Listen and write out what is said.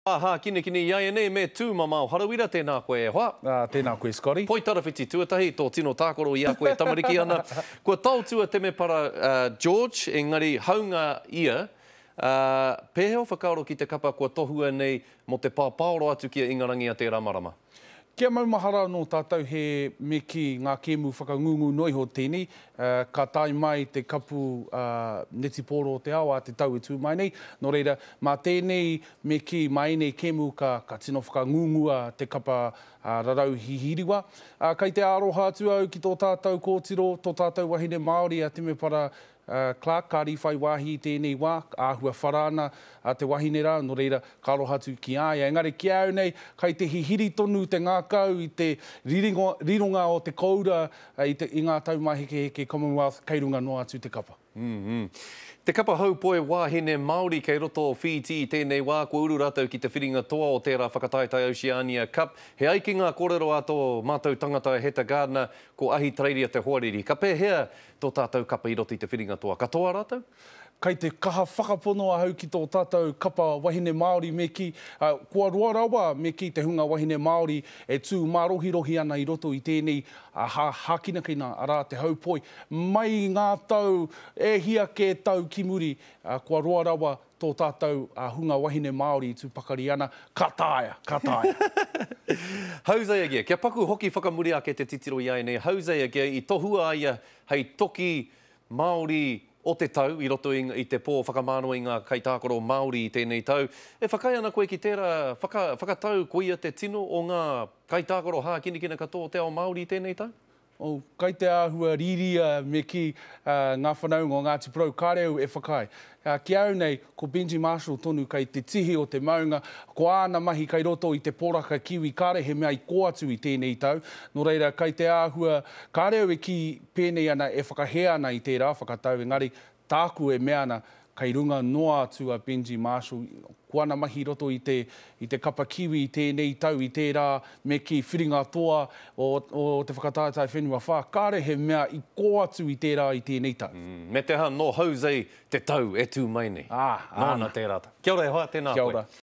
Aha, kinekine iaianei me tu mamao harawira tena koe e hoa. A, tena koe Scotty. Poi tarawhiti tuatahi to tino takoro i a koe tamariki ana. Kua taotua temepara George engari haunga ia a, pehea o whakaaro ki te kapa kua tohua nei mo te papaoro atu ki a Ingarangi a tera marama. Kia maumahara anō tātou he me kī ngā kēmu whakangungu noa iho tēnei, ka tae mai te kapu netipōro o te ao a te tau e tū mai nei, nō reira, mā tēnei me kī, mā ēnei kēmu ka ka tino whakangungua te kapa rarau hihiriwa. Kei te aroha atu au ki tō tātou kōtiro, tō tātou wahine Māori a Temepara Clark, Kāri whai wāhi i tēnei wā, āhua whara ana te wahine rā, nō reira, ka aroha atu ki a ia. Engari ki a au nei, kai te hihiri tonu te ngākau i te rironga o te koura i ngā taumāhekeheke Commonwealth kei runga noa atu te kapa. Te kapa haupoe wāhine Māori kei roto o Whītī i tēnei wā, kua uru rātou ki te whiringa toa o tērā Whakataetae Oceania Cup. He ai ki ngā kōrero a tō mātou tangata a Heta Gardiner, ko Ahitereiria te hoariri. Ka pēhea tō tātou kapa i roto i te whiringa toa katoa rātou. Kei te kaha whakapono ahau ki tō tātou kapa wahine Māori me kī, kua roa rawa me kī te hunga wahine Māori e tū mārohirohi ana i roto i tēnei hākinakina, arā, te haupoi. Mai i ngā tau e hia kē tau ki muri, kua roa rawa tō tātou hunga wahine Māori i tū pakari ana, ka taea, ka taea. Hosea Gea, kia paku hoki whakamuri ake te titiro i ēnei, Hosea Gea, i tohua a ia hei toki Māori o te tau i roto i te pō whakamānawa i ngā kaitākaro Māori i tēnei tau. E whakaae ana koe ki tērā whakatau koia te tino o ngā kaitākaro hākinakina katoa o te ao Māori i tēnei tau? Kai te āhua rīria me kī ngā whanaunga o Ngāti Porou, kāre au e whakaae. Ki a au nei, ko Benji Marshall tonu kei te tihi o te maunga, ko āna mahi kei roto i te poraka kiwi, kāre he mea i kō atu i tēnei tau. Nō reira, kai te āhua, kāre au e kī pēnei ana e whakahē ana i tērā whakatau, engari, Tāku e mea ana, kei runga noa atu a Benji Marshall i ko ana mahi i roto i te, i te kapa Kiwi i tēnei tau, i tērā, me kī, whiringa toa o, o te whakataetae whenua whā. Kāre he mea i kō atu i tērā i tēnei tau. Umm, me te aha, nō Jose te tau e tū mai nei. Ā, āna. Nōna tērā tau. Kia ora e hoa, tēnā koe. Kia ora.